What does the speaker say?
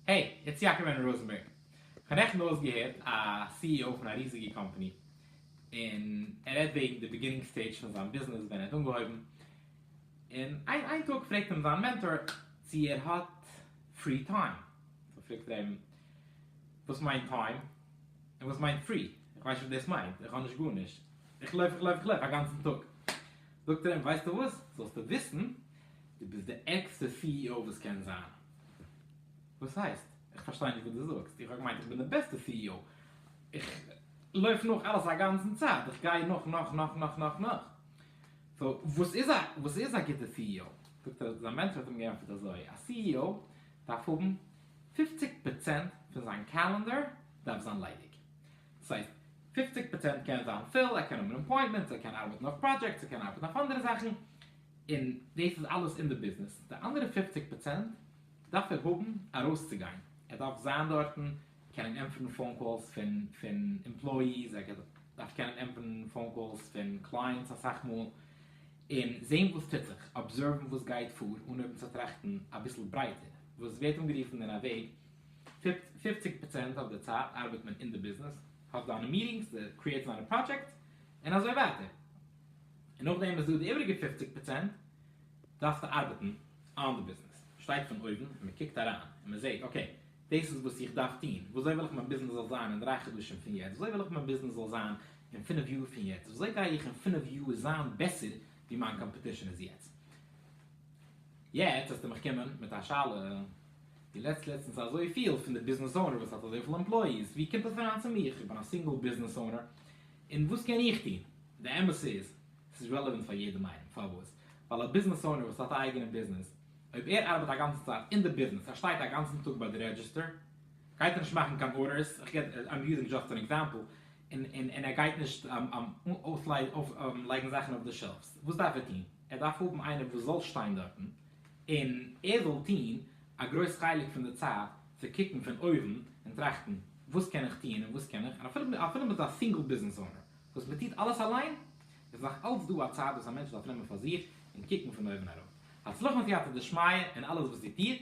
העי, איטס יעקב ענדרו ראזענבערג. כ'האב נעכטן אויסגעהערט א סי אי או פון א ריזיגע קאמפאני, און ער רעדט וועגן די ביגינינג סטעידזש פון זיין ביזנעס ווען ער האט אנגעהויבן, און איין איין טאג פרעגט אים זיין מענטאר צו ער האט פרי טיים, סאו פרעגט ער אים, וואס מיינט טיים? און וואס מיינט פרי? איך ווייס נישט וואס דאס מיינט, איך האב נישט גארנישט, איך לויף איך לויף איך לויף א גאנצן טאג. זאגט ער אים ווייסטו וואס, זאלסטו וויסן, דו ביסט די ערגסטע סי אי או וואס קען זיין. וואס הייסט? איך פארשטיי נישט וואס דו זאגסט, איך האב געמיינט איך בין די בעסטע סי אי או, איך לויף נאך אלעס א גאנצן צייט, איך גיי נאך נאך נאך נאך נאך נאך, סאו וואס איז א וואס איז א גוטע סי אי או? זאגט ער, זיין מענטשער האט אים געענטפערט אזוי, א סי אי או דארף האבן פופציג פראצענט פון זיין קאלענדער דארף זיין ליידיג, דאס הייסט פופציג פראצענט קען זיין פיל, ער קען האבן אן אפוינטמענט, ער קען ארבעטן אויף פראדזשעקטס, ער קען ארבעטן אויף אנדערע זאכן, און דאס איז אלעס אין די ביזנעס, די אנדערע פופציג פראצענט דארף ער האבן ארויסצוגיין, ער דארף זיין דארטן, קענען ענטפערן פאון קאלס פון פון עמפלאיס, ער דארף קענען ענטפערן פאון קאלס פון קלייענטס אסאך מאל, און זען וואס טוט זיך, אבזערוון וואס גייט פאר, אנהויבן צו טראכטן אביסל ברייטער, וואס ווערט אנגערופן אין א וועג פופציג פראצענט אויף די צייט ארבעט מען אין די ביזנעס, האט זיינע מיטינגס, קריעט זיינע פראדזשעקטס, און אזוי ווייטער. און נאכדעם איז דא די איבריגע פופציג פראצענט דארפסטו ארבעטן אן די ביזנעס. שטייט פון אויבן און מען קוקט אריין און מען זעט אקעי, דאס איז וואס איך דארף טון, וויאזוי וויל איך מיין ביזנעס זאל זיין אין דריי חדשים פון יעצט, וויאזוי וויל איך מיין ביזנעס זאל זיין אין פינף יאר פון יעצט, וויאזוי גיי איך אין פינף יאר זיין בעסער ווי מיין קאמפעטישן איז יעצט. יעצט העסטו מיך קומען מיט א שאלה. די לעצט לעצטנס אזויפיל פון די ביזנעס אונער וואס האט אזויפיל עמפלאיס, ווי קומט עס אריין צו מיך? איך בין א סינגל ביזנעס אונער, און וואס קען איך טון? די אמת איז, עס איז רעלעווענט פאר יעדעם איינעם, פארוואס? ווייל א ביזנעס אונער וואס האט א אייגענע ביזנעס, אויב ער ארבעט א גאנצע צייט אין די ביזנעס, ער שטייט א גאנצן טאג ביי די רעדזשיסטער, גייט ער נישט מאכן קיין ארדערס, איך געב, איים יוזינג דזשאסט אן עקזעמפל, און ער גייט נישט אויסלייגן זאכן אויף די שעלפס, וואס דארף ער טון? ער דארף האבן איינער וואס זאל שטיין דארטן, און ער זאל טון א גרויס חלק פון די צייט צו קוקן פון אויבן און טראכטן וואס קען איך טון און וואס קען איך, און אפילו מ'איז א סינגל ביזנעס אונער וואס מ'טוט אלעס אליין, איז נאך אלץ דא א צייט וואס א מענטש דארף נעמען פאר זיך און קוקן פון אויבן אראפ. הצלחה און סייעתא דשמיא אין אלעס וואס דו טוסט.